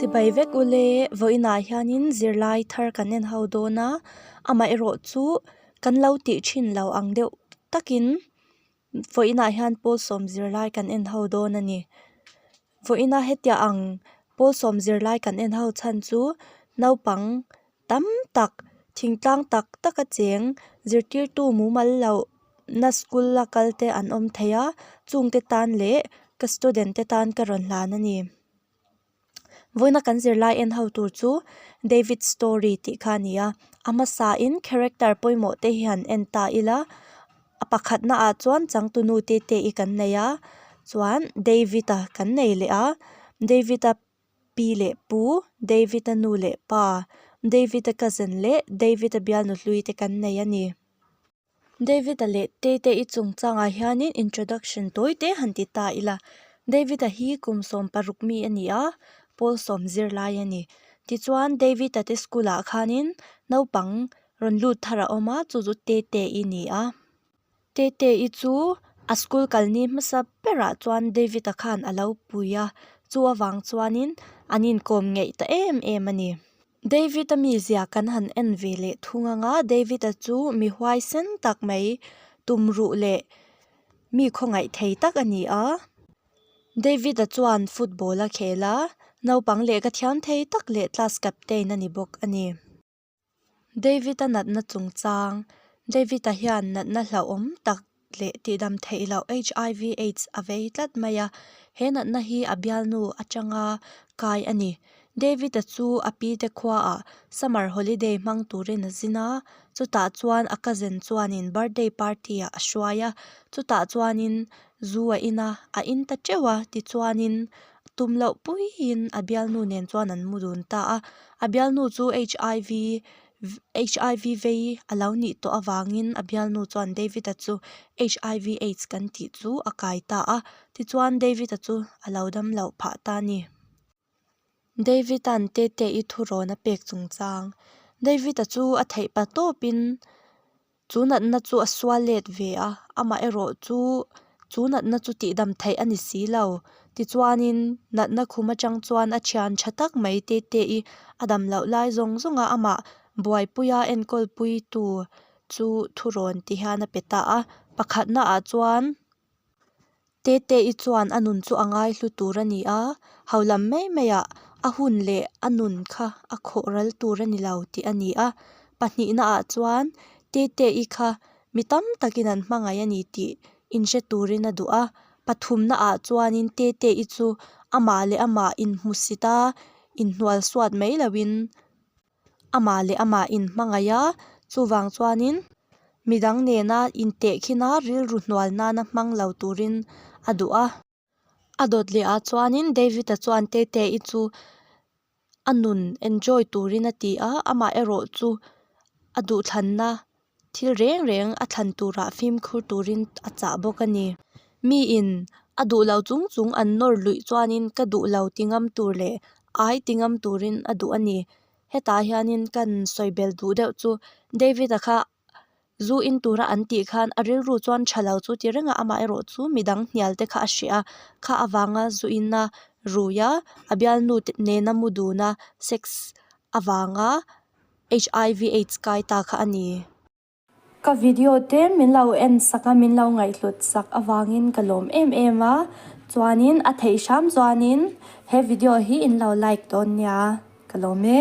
Chibai vek u le, vawiinah hianin zirlai thar kan en ho dawn a, amaherawh chu kan lo tih thin lo ang deuh takin vawiinah hian pawl sawm zirlai kan en ho dawn a ni. Vawiina hetiang pawl sawm zirlai kan en ho chhan chu naupang tam tak thingtlang tak tak a cheng zirtirtu mumal loh na school la kal te an awm thei a chung te tan leh ka student te tan ka rawn hlan a ni vawiina kan zirlai en ho tur chu David storey tih kha a ni a a hmasa in character pawimawh te hi han en ta ila a pakhat na ah chuan changtunu tete i kan nei a chuan David a kan nei leh a David a. Pi leh pu, David-a nu leh pa, David-a cousin leh David-a bial nuhlui te kan nei a ni. David-a leh Tate-a i chungchangah hianin introduction tawi te han ti ta ila. David-a hi kum sawm paruk mi a ni a, Paul sawm zirlai a ni. Tichuan David-a te school-ah khanin naupang rawn lut thar a awm a, chu chu Tate-a ni a. Tete i chu a school kalni hmasa berah chuan David a khan a lo pui a, chu avang chuanin an inkawm ngeih ta em em a ni. David a mizia kan han en ve leh thung anga, David a chu mi huai sen tak mai, tumruh leh mi khawngaih thei tak a ni a. David a chuan football a khel a, naupang lehkha thiam thei tak leh class captain a ni bawk a ni. David-a natna chungchang, David-a hian natna hlauhawm tak leh tihdam theih loh HIV, aids a vei tlat mai a. He natna hi a bialnu atanga kai a ni. David-a chu a pite khuaah summer holiday hmang turin a zin a, chutah chuan a cousin chuanin birthday party-ah a hruai a. Chutah chuanin zu a in a, a in ta teuh a, tichuanin Tum loh puiin a bialnu nen chuan an mu dun ta a. A bialnu chu HIV HIV vei a lo nih tawh avangin a bialnu chuan David-a chu HIV aids kan tih chu a kai ta a. Tichuan David-a chu a lo dam loh phah ta a ni. David-a'n Tete-i thurawn a pek chungchang. David-a chu a theih pa tawpin. Chu natna chu a sual let ve a, amaherawh chu chu natna chu tihdam theih a ni si lo. Tichuanin, natna khum atang chuan a thian tha tak mai Tete i a dam loh lai zawng zawng a amah buaipui a enkawl pui tu chu thu rawn ti hian a pe ta a. Pakhatnaah chuan Tete i chuan a nun chu a ngai hlu tur a ni a, haulam mai mai ah a hun leh a nun kha a khawh ral tur a ni lo tih a ni a. Pahnihna ah chuan Tete i kha mi tam tak in an hmangaih a ni tih inhre tur in a duh a. Pathumna ah chuan in Tete i chu amah leh amah inhmusit a, inhnual suat mai lo in Amah leh amah in hmangaih a, chuvang chuanin midang nena intehkhina rilru hnual nana hmang lo turin a duh a. A dawt lehah chuanin David-a chuan Tete-i chu a nun enjoy turin a ti a, amah erawh chu a duhthlanna thil reng reng a thlan turah fimkhur turin a chah bawk a ni. Mi in a duh lo chung chung an nawr luih chuanin ka duh lo ti ngam tur leh ai ti ngam turin a duh a ni. Hetah hianin kan sawi bel duh deuh chu David-a kha zu in tura an tih khan a rilru chuan tha lo chu ti reng a, amah erawh chu midang hnial te kha a hria a, kha avanga zu in a rui a, a bialnu nena mu dun a sex avanga HIV aids kai ta kha a ni. Ka video te min lo en sak a, min lo ngaihhlut sak avangin ka lawm em em a, chuanin a theih hram chuanin he video hi in lo like dawn nia ka lawm e.